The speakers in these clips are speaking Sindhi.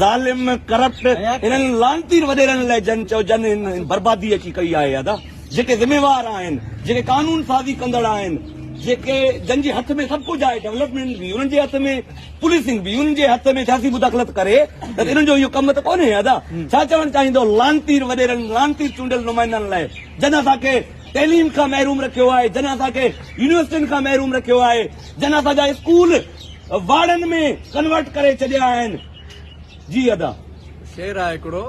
ظالم ڪرپٽ انهن لعنتي وڏيرن لئه جن چئو جن هن بربادي اچي ڪئي آهي ادا جيڪي ذميوار آهن جيڪي قانون سازي ڪندڙ آهن جيڪي جن جي هٿ ۾ سڀ ڪجهه آهي ڊولپمينٽ به انهن جي هٿ ۾ پوليسنگ به انهن جي هٿ ۾ سياسي مداخلت ڪري ته انهن جو اهو ڪم ته ڪونهي ادا ڇا چوڻ چاهيندو لعنتي وڏيرن لعنتي چونڊيل نمائندن لئه جن اسان کي تعليم کان محروم رکيو آهي جن اسان کي يونيورسٽين کان محروم رکيو آهي جن اسان جا اسڪول واڙن ۾ ڪنورٽ ڪري ڇڏيا آهن جي ادا. شعر آهي هڪڙو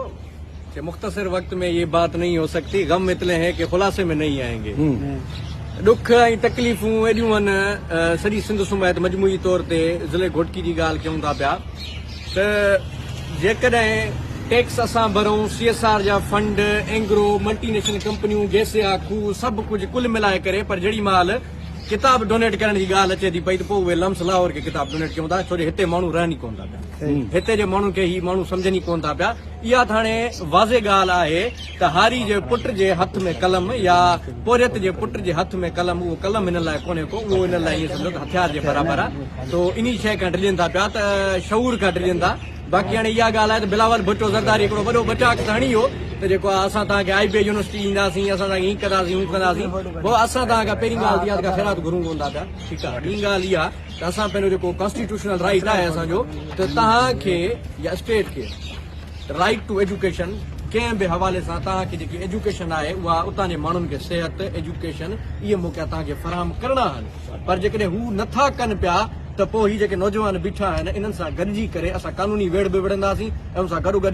ڪي مختصر وقت مين يي بات نهين هو سڪتي غم اتني هين ڪي خلاصي مين نهين آئين گي ڏک ۽ تڪليفون ايڏيون هن سڄي سنڌ سميت مجموعي طور تي ضلعي گهوٽڪي جي ڳالهه ڪيون ٿا پيا ته جيڪڏهن ٽيڪس اسان ڀرون سي ايس آر جا فنڊ اينگرو ملٽي نيشنل ڪمپنيون گيسيا کوهه سڀ ڪجهه ڪل ملائي ڪري پر جهڙي مهل ڪتاب ڊونيٽ ڪرڻ جي ڳالهه اچي ٿي پئي ته پوء اهي لمس لاهور کي ڪتاب ڊونيٽ ڪيون ٿا ڇو جو هتي ماڻهو رهن ئي ڪونه ٿا پيا هتي جي ماڻهن کي هي ماڻهو سمجهن ئي ڪونه ٿا پيا اها ته هاڻي واضح ڳالهه آهي ته هاري جي پٽ جي هٿ ۾ قلم يا پورهيت جي پٽ جي هٿ ۾ قلم اهو قلم هنن لاء ڪونهي ڪو اهو هنن لاء ائين سمجهو ته هٿيار جي برابر آهي سو انهي شيء کان ڊڄن ٿا پيا ته شعور کان ڊڄن ٿا باقي هاڻي اها ڳالهه آهي ته بلاول ڀٽو زرداري هڪڙو وڏو ٻٽاڪ ڌڻي هو ته جيڪو آهي اسان توهان کي آء بي يونيورسٽي ڏينداسين اسان توهان کي هيء ڪنداسين هو ڪنداسين بابا اسان توهان کان پهرين ڳالهه ته اها ته ڪا خيرات گهرون ڪونه ٿا پيا ٺيڪ آهي ٻي ڳالهه اها ته اسان پنهنجو جيڪو ڪانسٽيٽيوشنل رائيٽ آهي اسان جو ته توهان کي يا اسٽيٽ کي رائيٽ ٽو ايجوڪيشن ڪنهن به حوالي سان توهان کي جيڪي ايجوڪيشن آهي اها اتان جي ماڻهن کي صحت ايجوڪيشن اهي موقعا توهان کي فراهم ڪرڻا آهن پر جيڪڏهن هو نه ٿا ڪن پيا ته پوء هي جيڪي نوجوان بيٺا آهن انهن سان گڏجي ڪري اسان قانوني ويڙهه به وڙهنداسين ۽ ان سان گڏوگڏ